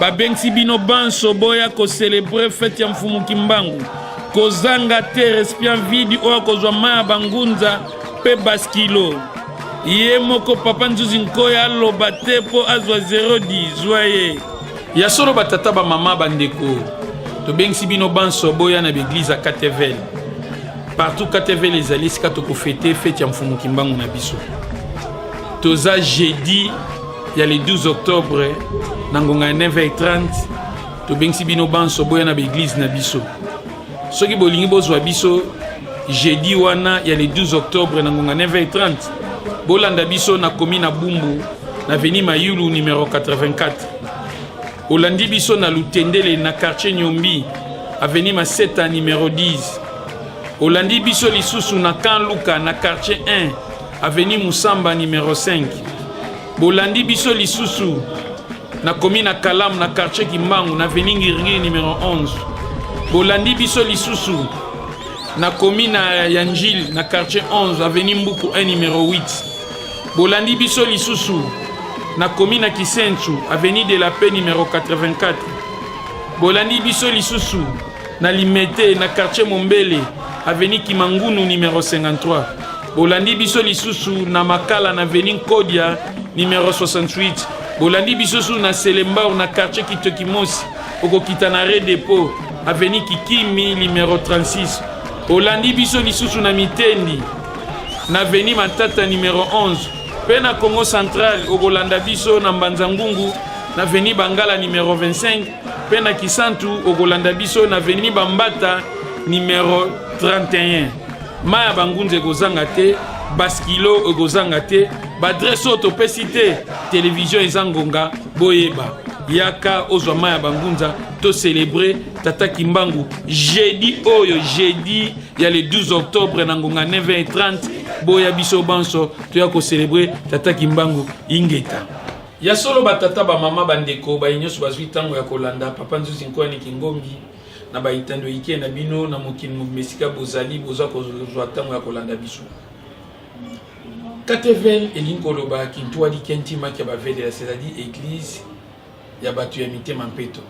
babengisi bino banso boya koselebre fete ya mfumu kimbangu kozanga te respian vidi oyo akozwa mai ya bangunza mpe baskilo ye moko papa nzuzi nkoya aloba te mpo azwa 010 zwa ye ya solo batata bamama bandeko tobengisi bino banso boya na baeglize ya katevel partout katevel ezali esika tokofete fete ya mfumu kimbangu na biso toza jeudi ya le 12 octobre na ngonga ya 9h30 tobengisi bino banso boya na baeglize na biso soki bolingi bozwa biso jeudi wana ya le 12 octobre na ngonga 9h30 bolanda biso na komi na bumbu na veni mayulu numero 84 olandi biso na lutendele na quartier nyombi aveni maseta numero 10 olandi biso lisusu na kan luka na quartier 1 Avenue Musamba numero 5. Bolandi biso lisusu na commune ya Kalamu na quartier Kimbangu na avenue Ngiringiri numero 11. Bolandi biso lisusu na commune ya Njili na quartier 11 avenue Mbuku 1 numero 8. Bolandi biso lisusu na commune ya Kisensu avenue de la Paix numero 84. Bolandi biso lisusu na limete na quartier mombele aveni kimangunu numero 53 bolandi biso lisusu na makala na veni nkodia numero 68 bolandi biso susu na selembao na quartier kitokimosi okokita na re depot aveni kikimi numero 36 olandi biso lisusu na mitendi na veni matata numero 11 mpe na congo central okolanda biso na mbanza ngungu na veni bangala numero 25 Mpe na Kisantu okolanda biso na veni Bambata numero 31. Mai ya bangunza ekozanga te, baskilo ekozanga te, baadrese oyo topesi te, televizio eza ngonga, boyeba yaka ozwa mai ya bangunza to celebre tata kimbangu jeudi oyo jeudi ya le 12 octobre na ngonga 9h30 boya biso banso toya kocelebre tata kimbangu ingeta Ya solo batata, bamama, bandeko, baye nyonso bazwi ntango ya kolanda Papa Nzuzi Nkoani Kingombi na baitando ike na bino na mokili mobimba esika bozali boza kozwa ntango ya kolanda biso. Katevel elingi koloba kintua likentima kya bavelela c'est-à-dire eglise ya bato ya mitema mpeto.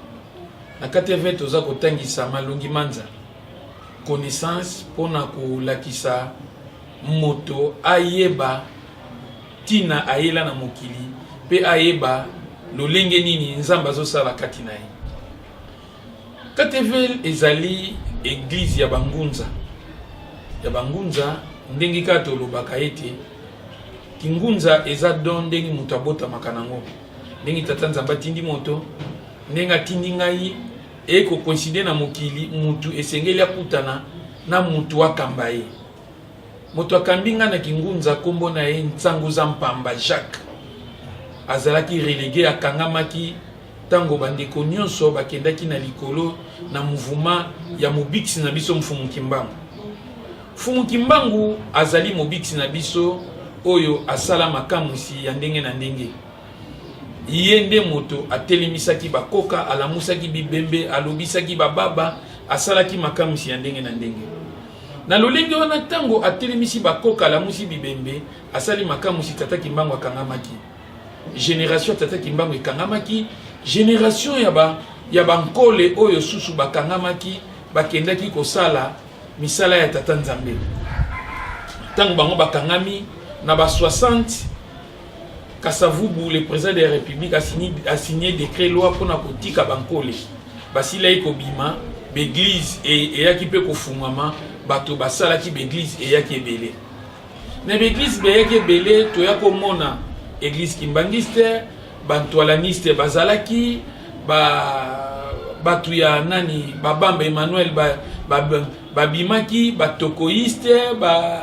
Na Katevel toza kotangisa malongi manza connaissance mpo na kolakisa moto ayeba Tina ayela na mokili pe ayeba lolenge nini Nzambe azosala kati na ye. Kateville ezali eglise ya bangunza ya bangunza ndenge kaka tolobaka ete kingunza eza don ndenge moto abotamaka nango ndenge tata nzambe atindi moto ndenge atindi ngai ekokoinside na mokili mutu esengeli akutana na mutu akamba ye Moto akambi ngai na Kingunza, nkombo na ye Nsanguza Mpamba Jacques, azalaki relege, akangamaki ntango bandeko nyonso bakendaki na likolo na muvuma ya mobikisi na biso Mfumu Kimbangu. Mfumu Kimbangu azali mobikisi na biso oyo asala makamwisi ya ndenge na ndenge. Ye nde moto atelemisaki bakoka, alamusaki bibembe, alobisaki bababa, asalaki makamwisi ya ndenge na ndenge. Na lolenge wana, ntango atelemisi bakoka, alamusi bibembe, asali makamwisi, Tata Kimbangu akangamaki. Generation ya Tata Kimbangu ekangamaki, generation ya ba ya bankole oyo susu bakangamaki, bakendaki kosala misala ya Tata Nzambe. Ntango bango bakangami na ba 60 Kasavubu, le président de la République, a signé, a signé décret loi pour na kotika bankole basilaki kobima baeglise eyaki mpe kofungwama bato basalaki baeglise eyaki ebele na baeglise beyaki ebele toya komona eglise kimbangiste bantualaniste bazalaki ba bato ya nani babamba emmanuel babimaki ba, ba batokoiste ba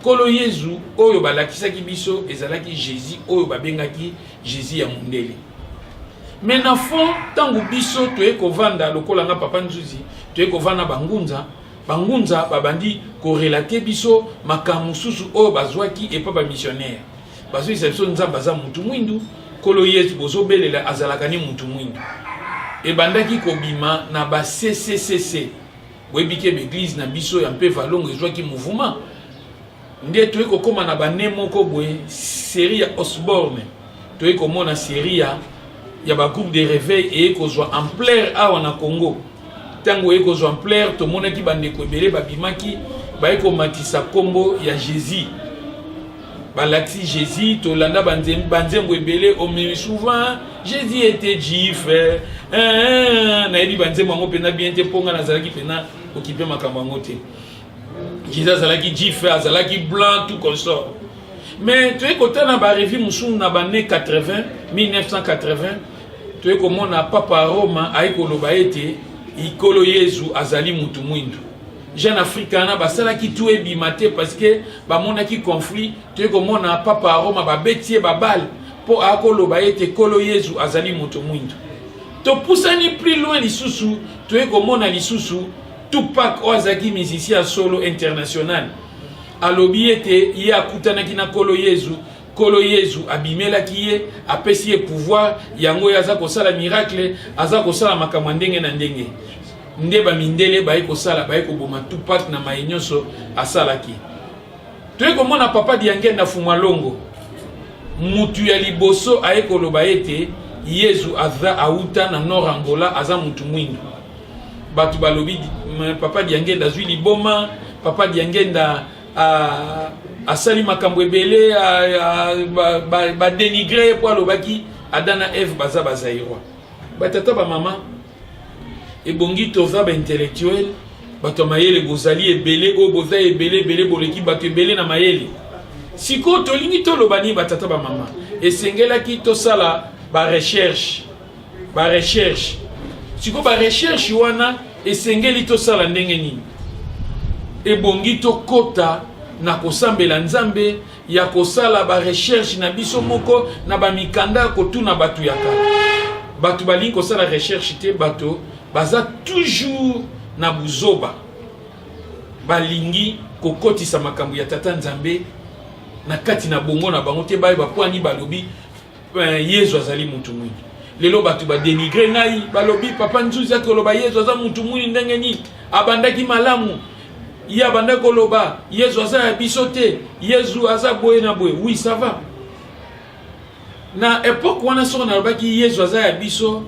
Nkolo Yezu oyo balakisaki biso ezalaki Jesus oyo babengaki Jesus ya mundele. Mais na fond, ntango biso toye kovanda lokola nga Papa Nzuzi, toye kovanda bangunza, bangunza babandi korelate biso makambo mosusu oyo bazwaki epa bamissionnaire. Bazoyisa biso Nzambe aza mutu mwindu, Nkolo Yezu bozobelela azalaka ni mutu mwindu. Ebandaki kobima na ba CCCC, boyebi ke baeglize na biso ya mpe valongo ezwaki mouvement nde toyei kokóma na bane moko boye série ya osborne toyei komona série ya ya bagroupe de réveil eyei kozwa ampleur awa na congo ntango eyei kozwa ampleur tomonaki bandeko ebele babimaki bayei komatisa nkombo ya jésus balakisi jésus tolanda banzembo ebele omemi souvent jésus ete jif eh, eh, eh, nayebi banzembo yango mpena bien te mpo ngai nazalaki mpena okipe makambo yango te jésus azalaki jif azalaki blanc tout consort mais toyei kotala na barevue mosusu na bane 80 1980 toyei komona papa roma ayei koloba ete ikolo yezu azali motu mwindu Jeune Africana basalaki tout ebima te parce que bamonaki conflit toye komona papa ya Roma babeti ye babale mpo akoloba ete nkolo Yezu azali moto mwindo. Topusani plus loin lisusu toye komona lisusu Tupac oyo azalaki musicien ya solo international alobi ete ye akutanaki na nkolo Yezu Kolo Yezu abimelaki ye, apesi ye pouvoir, yango ye aza kosala miracle, aza kosala makambo ndenge na ndenge. Nde ba mindele baye kosala, baye koboma Tupac na maye nyonso asalaki. Toye komona Papa Diangenda Fumalongo, mutu ya liboso aye koloba ete Yezu aza auta na Nord Angola, aza mutu mwindu. Batu balobi Papa Diangenda azwi liboma, Papa Diangenda Ah, asali makambo ebele badenigre ye mpo alobaki ada na eve baza bazairoi batata bamama ebongi toza baintellectuel bato ya mayele bozali ebele oyo boza ebele ebele boleki bato ebele na mayele sikoyo tolingi toloba nini batata bamama esengelaki tosala barecherche ba recherche siko ba recherche wana esengeli tosala ndenge nini ebongi tokota na kosambela nzambe ya kosala ba recherche na biso moko na ba mikanda ya kotuna bato ya kala bato balingi kosala recherche te bato baza toujours na buzoba balingi kokotisa makambo ya tata nzambe na kati na bongo na bango te baye bakwani balobi Eh, yezu azali moto mwini lelo bato badenigre ngai balobi papa nzuzi ati koloba yezu aza moto mwini ndenge nini abandaki malamu ye abandaki koloba yezu aza ya biso te yezu aza boye na boye wi ça va na epoke wana soko nalobaki yezu aza ya biso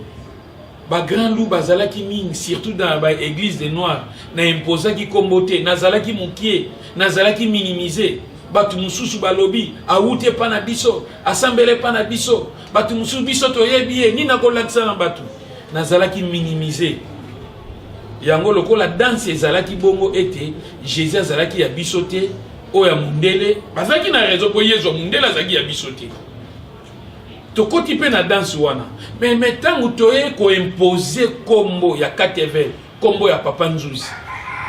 ba grand loup bazalaki mingi surtout dans ba église de noir na imposaki kombo te nazalaki mokie nazalaki minimiser bato mosusu balobi awuti epa na biso asambela epa na biso bato mosusu biso toyebi ye nini akolakisa na bato nazalaki minimiser yango lokola danse ezalaki bongo ete jésus azalaki ya biso te oyo ya mondele bazalaki na raison mpo yezu ya mondele azalaki ya biso te tokoti mpe na danse wana me me ntango toye koimpose nkombo ya katevel nkombo ya papa nzuzi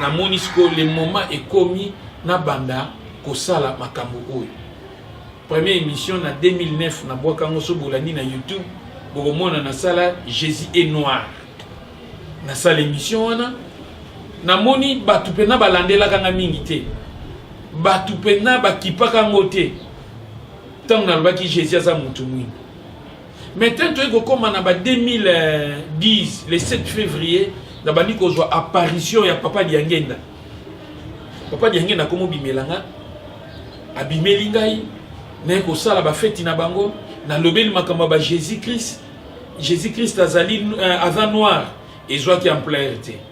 namoni sikoyo le moment ekomi nabanda kosala makambo oyo première émission na 2009 nabwaka yango so bolandi na youtube bokomona nasala jésus et noir nasala émission wana namoni bato mpena balandelaka nga mingi te bato mpena bakipaka yango te ntango nalobaki jésus aza motu mwindu maintenant toyei kokóma na ba 2010 le 7 février nabandi kozwa apparition ya papa diangenda papa diangenda akomobimela nga abimeli ngai naye kosala bafeti na bango nalobeli makambo ya ba jésus christ jésus christ azali euh, aza noir ezwaki ampleur te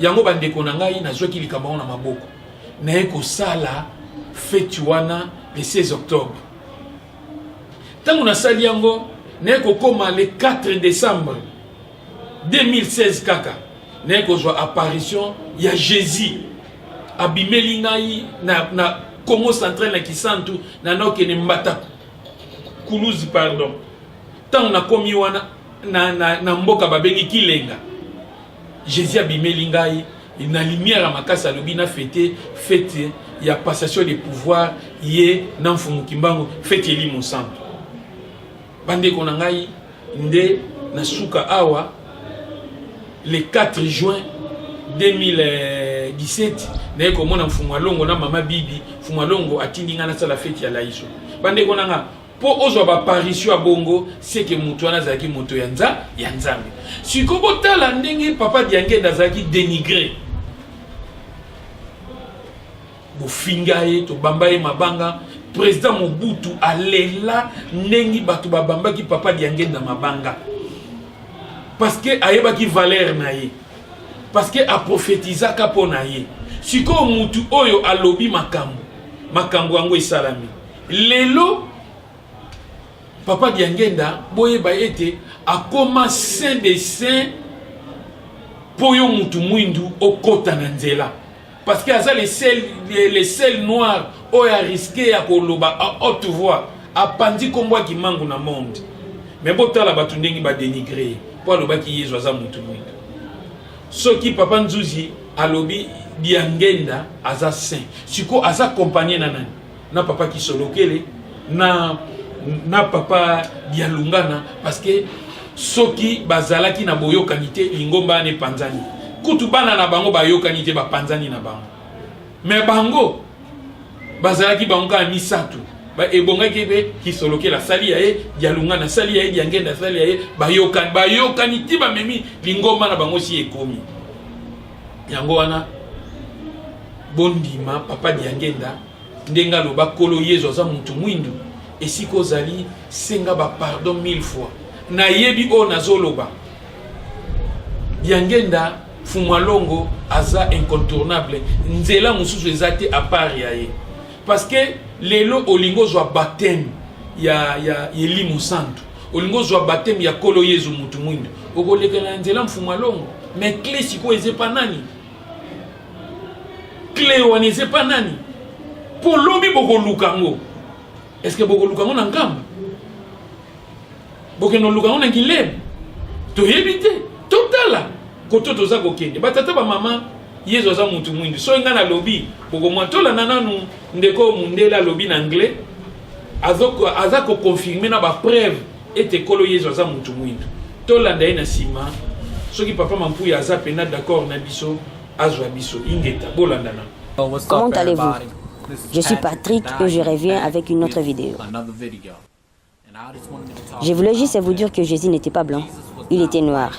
yango bandeko na ngai nazwaki likambo yango na maboko naye kosala feti wana le 16 octobre ntango nasali yango naye kokoma le 4 décembre 2016 kaka naye kozwa apparition ya jésus abimeli ngai na, na congo central na kisantu na naokende mbata kuluzi pardon ntango nakomi wana na, na, na mboka babengi kilenga Jesus abimeli ngai na lumière ya makasi alobi na fete fete ya passation de pouvoir ye na mfumu kimbangu fete elimo santu bandeko na ngai nde na suka awa le 4 juin 2017 naye komona mfumu alongo na mama bibi mfumu alongo atindi ngai nasala fete ya laiso bandeko na ngai mpo ozwa baparisio ya bongo seke moto wana azalaki moto ya nza ya nzambe siko botala ndenge papa diangende azalaki denigre bofinga ye tobamba ye mabanga président mobutu alela ndenge bato babambaki papa diangende na mabanga parce que ayebaki valeur na ye parce que aprofetizaka mpo na ye sikoyo motu oyo alobi makambo makambo yango esalami lelo papa diangenda boyeba ete akoma saint de saint mpo yo mutu mwindu okota na nzela parce que aza le sel, le, le sel noir oyo ariske ya koloba a haute voix apanzi nkombo ya kimangu na monde me botala bato ndenge badenigre ye mpo alobaki yezu aza motu mwindu soki papa nzuzi alobi diangenda aza saint sikoyo aza kompanie na nani na papa kisolokele na na papa bialungana parce que soki bazalaki na boyokani te lingomba wana epanzani kutu bana na bango bayokani te bapanzani na bango me bango bazalaki bango kaka misato ebongaki mpe kisolokela asali ya ye dialungana asali ya ye diangenda asali ya ye bayokani bayokani ti bamemi lingomba na bango si ekomi yango wana bondima papa diangenda ndenge aloba kolo yezu aza mutu mwindu esika ozali senga ba pardon mille fois nayebi oyo nazoloba diangenda fumalongo aza incontournable nzela mosusu eza te apart ya ye parce que lelo olingi ozwa bateme ya, ya elimu santu olingi ozwa bateme ya kolo yezu mutu mwindu okolekela na nzela mfumalongo mais cle sikoyo eza epa nani cle wana eza epa nani mpo lobi bokoluka yango estce bokoluka yango na nkamba bokende oluka yango na gileme toyebi te totala koto toza kokende batata bamama yezu aza motu mwindu soki ngai nalobi bokomwatolana nanu ndeko mundele alobi na anglais aza koconfirme na bapreuve ete nkolo yezu aza mutu mwindu tolanda ye na nsima soki papa mampuya aza pena d'accord na biso azwa biso ingeta bolandana comment allez-vous je suis patrick et je reviens avec une autre vidéo je voulais juste vous dire que jésus n'était pas blanc il était noir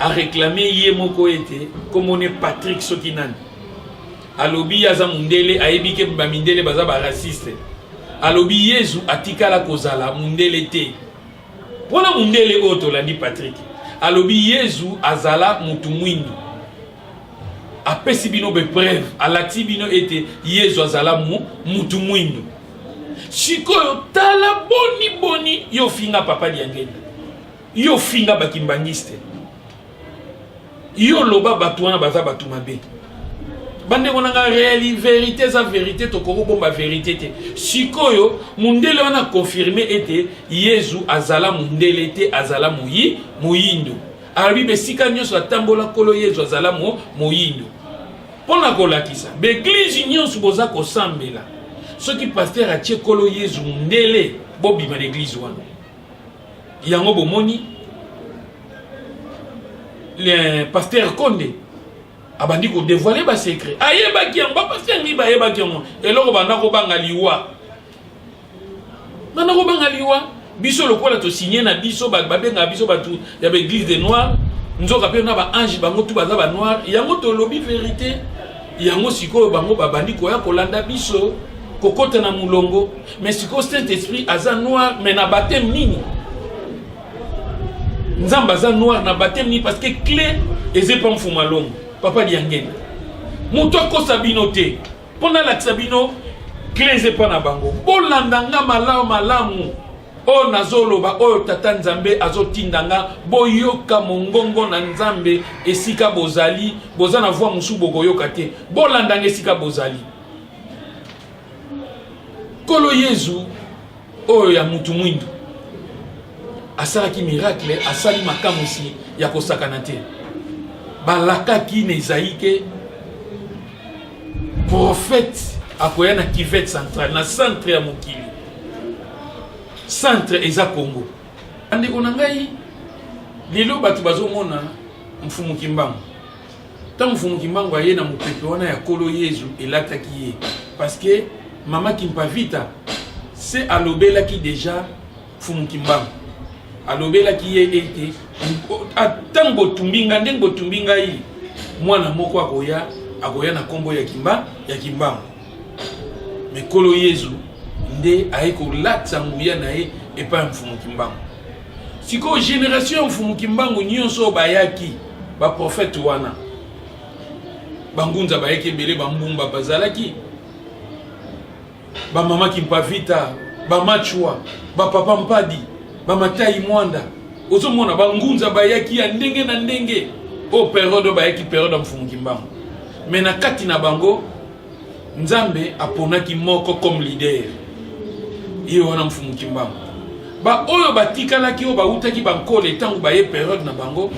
a reclame ye moko ete komone Patrick soki nani alobi aza mundele ayebi ke ba mindele baza ba raciste alobi Yezu atikala kozala mundele te mpona mundele oyo tolandi Patrick alobi Yezu azala mutu mwindu apesi bino bepreuve alati bino ete yezu azala mu mutu mwindu sikoyo tala boni boni yo ofinga papa diangenda Yo finga ba kimbanguiste. Yo loba batu wana baza batu mabe. bandeko na nga reali verite eza verite tokoki kobomba verite te sikoyo mondele wana akonfirme ete yezu azala mondele te azala moyi moyindo alobi besika nyonso atambola nkolo yezu azala mo moyindo mpo na kolakisa baeglize nyonso boza kosambela soki paster atie nkolo yezu mondele bobima na eglize wana yango bomoni le pasteur konde abandi kodevoile basecret ayebaki yango bapasteur nini bayebaki yango eloko banda kobanga liwa banda kobanga liwa biso lokola tosigne na biso bato babengaka biso bato ya baeglise de noir nzoka mpe na baange bango tu baza banoir yango tolobi verité yango sikoyo bango babandi koya kolanda biso kokota na molongo Mais sikoyo Saint Esprit aza noir mais na baptême nini? Nzambe aza noir na baptême nini parce que clé eza epa mfuma longo papa diangenda moto akosa bino te mpo nalakisa bino clé eza epa na bango bolanda nga malamu malamu oyo nazoloba oyo tata nzambe azotinda nga boyoka mongongo na nzambe esika bozali boza na voi mosusu bokoyoka te bolandanga esika bozali Kolo Yezu oyo ya mutu mwindu asalaki miracle, asali makamwisi ya kosakana te. Balakaki na Ezayi ke profete akoya na kivete centrale, na centre ya mokili. Centre eza Congo. Bandeko na ngai, lelo bato bazomona mfumu Kimbangu Ntango Mfumu Kimbangu aye na mopepe wana ya Nkolo Yezu, elataki ye parce que mama Kimpavita se alobelaki deja Mfumu Kimbangu, alobelaki ye ete ntango botumbi ngai ndenge botumbi ngai, mwana moko akoya akoya na nkombo ya Kimba ya Kimbangu. Me Nkolo Yezu nde aye kolatisa nguya na ye epai ya Mfumu Kimbangu. sikoyo generation ya mfumu kimbangu nyonso oyo bayaki baprofete wana bangunza bayaki ebele bambumba bazalaki bamama kimpavita bamachwa bapapa mpadi bamatai mwanda ozomona bangunza bayaki ya ndenge na ndenge oyo periode oyo bayaki periode ya mfumu kimbangu me na kati na bango nzambe aponaki moko comme leader ye wana mfumu kimbangu baoyo batikalaki oyo bautaki bankole ntango baye periode na bango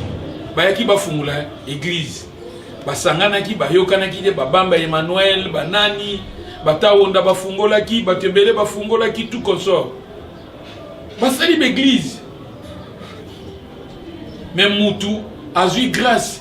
bayaki bafungola eglize basanganaki bayokanaki te babamba emmanuel banani batawonda bafungolaki bato ebele bafungolaki tout consort basali baeglize me mutu azwi grâce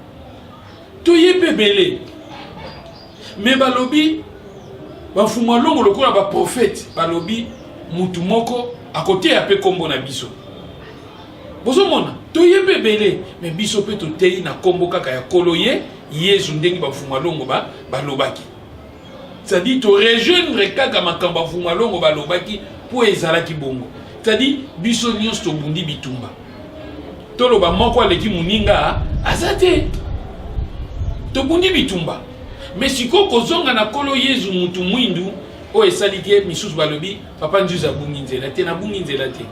toye mpe ebele me balobi bamfumu ya longo lokola baprofete balobi mutu moko akoteya mpe nkombo na biso bozomona toye mpe ebele me biso mpe toteyi na nkombo kaka ya kolo ye yezu ndenge bamfumu ya longo balobaki c'est-à-dire to rejoindre kaka makambo ya vumalongo balobaki mpo ezalaki bongo c'est-à-dire biso nyonso tobundi bitumba toloba moko aleki moninga aza te tobundi bitumba me sikoyo kozonga na nkolo yezu motu mwindu oyo esali te misusu balobi papa nzuzi abungi nzela te nabungi nzela te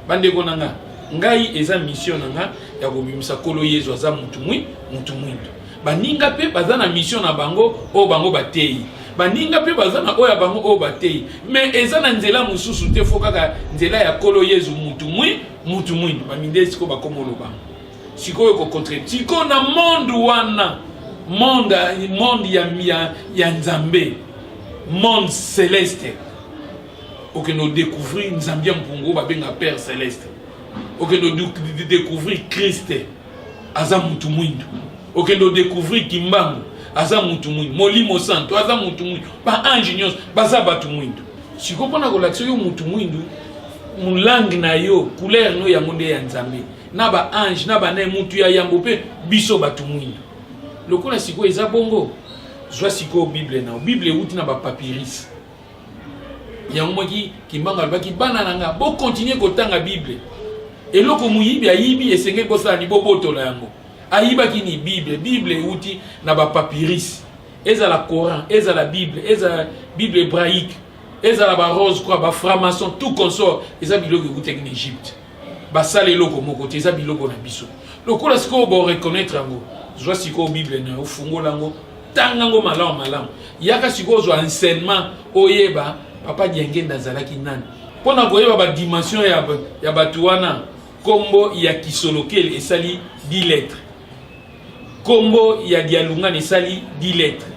bandeko na nga ngai eza mission na nga ya kobimisa nkolo yezu aza motu mwindu baninga mpe baza na mission na bango oyo bango bateyi baninga mpe baza na oyo ya bango oyo bateyi me eza na nzela mosusu te fo kaka nzela ya kolo yezu mutu mwi mutu mwindu bamindele sikoyo bakoma oloba sikoyo kokontre sikoyo na monde wana monde monde ya, ya, ya nzambe monde celeste okende odécouvrir nzambe ya mpungu babenga père celeste okende odécouvrir kriste aza mutu mwindu okende odécouvrir kimbangu aza mutu mwindu molimo santo aza mutu mwindu baange nyonso baza bato mwindu sikoyo mpona kolakisa yo mutu mwindu mulange na yo couleur no yango nde ya nzambe na baange na banaye mutu ya yambo mpe biso bato mwindu lokola sikoyo eza bongo zwa sikoyo bible nao bible euti na bapapirise yango moki kimbangu alobaki bana na nga bokontinue kotanga bible eloko moyibi ayibi esengeli bosala ni bobotola yango ayibaki ni bible bible euti na bapapirise ezala coran ezala bible ezala bible hébraïque ezala barose croix baframaçon tout consort eza biloko eutaki na egypte basala eloko moko te eza biloko na biso lokola sikoyo boreconnaitre yango zwa sikoyo bible na yo fungola yango tanga yango malamu malamu yaka sikoyo ozwa enseignement oyeba papa diangenda azalaki nani mpo na koyeba badimension ya, ya bato wana nkombo ya kisolokele esali di lettre nkombo ya dialungana esali di lettre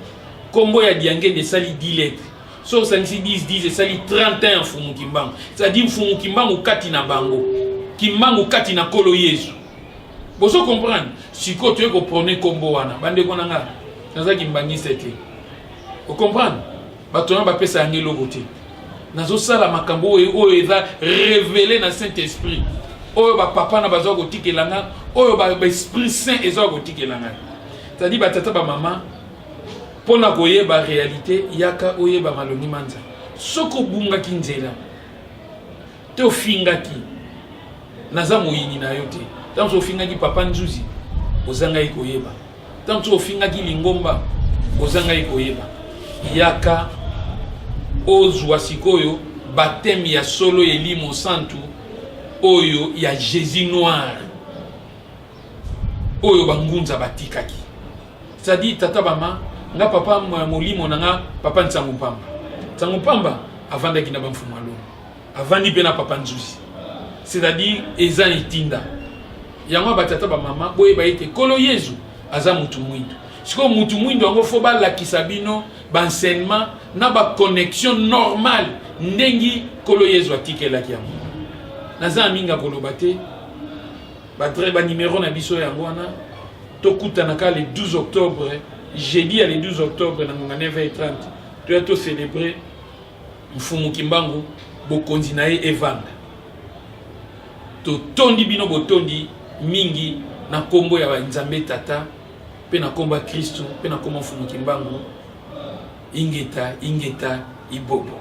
nkombo ya diangenda esali di lettre so osangisi 10 10 esali 31 mfumu kimbangu cetadi mfumu kimbangu kati na bango kimbangu kati na nkolo yezu bozo comprendre sikoyo toye koprone nkombo wana bandeko na ngai naza kimbangista te ocomprendre bato wana bapesa yango eloko te nazosala makambo oyo oyo eza revele na saint esprit oyo bapapa na baza kotikela ngai oyo baesprit saint eza kotikela ngai cetadi batata bamama Mpo na koyeba realite, yaka oyeba Maloni Manza. Soki obungaki nzela te ofingaki, naza moyini na yo te. Ntango soki ofingaki papa Nzuzi, ozangaki koyeba. Ntango soki ofingaki Lingomba, ozangaki koyeba. Yaka ozwa sikoyo bateme ya solo ya elimo santu oyo ya Jésus noir oyo bangunza batikaki. Sadi tata bama nga papa molimo na nga papa nsango mpamba nsango mpamba avandaki na bamfumu alo avandi mpe na papa nzuzi c'est-à-dire eza etinda yango batata bamama boyeba ete nkolo yezu aza mutu mwindu sikoyo mutu mwindu yango fo balakisa bino baenseignement na baconnexion normale ndenge nkolo yezu atikelaki yango naza ya mingi akoloba te Ba très ba numero na biso yango wana tokutana ka le 12 octobre jeudi ya le 12 octobre na ngonga 9h30 toya to célébrer mfumu kimbangu bokonzi na ye evanda totondi bino botondi mingi na nkombo ya nzambe tata mpe na nkombo ya kristu mpe na nkombo mfumu kimbangu ingeta ingeta ibobo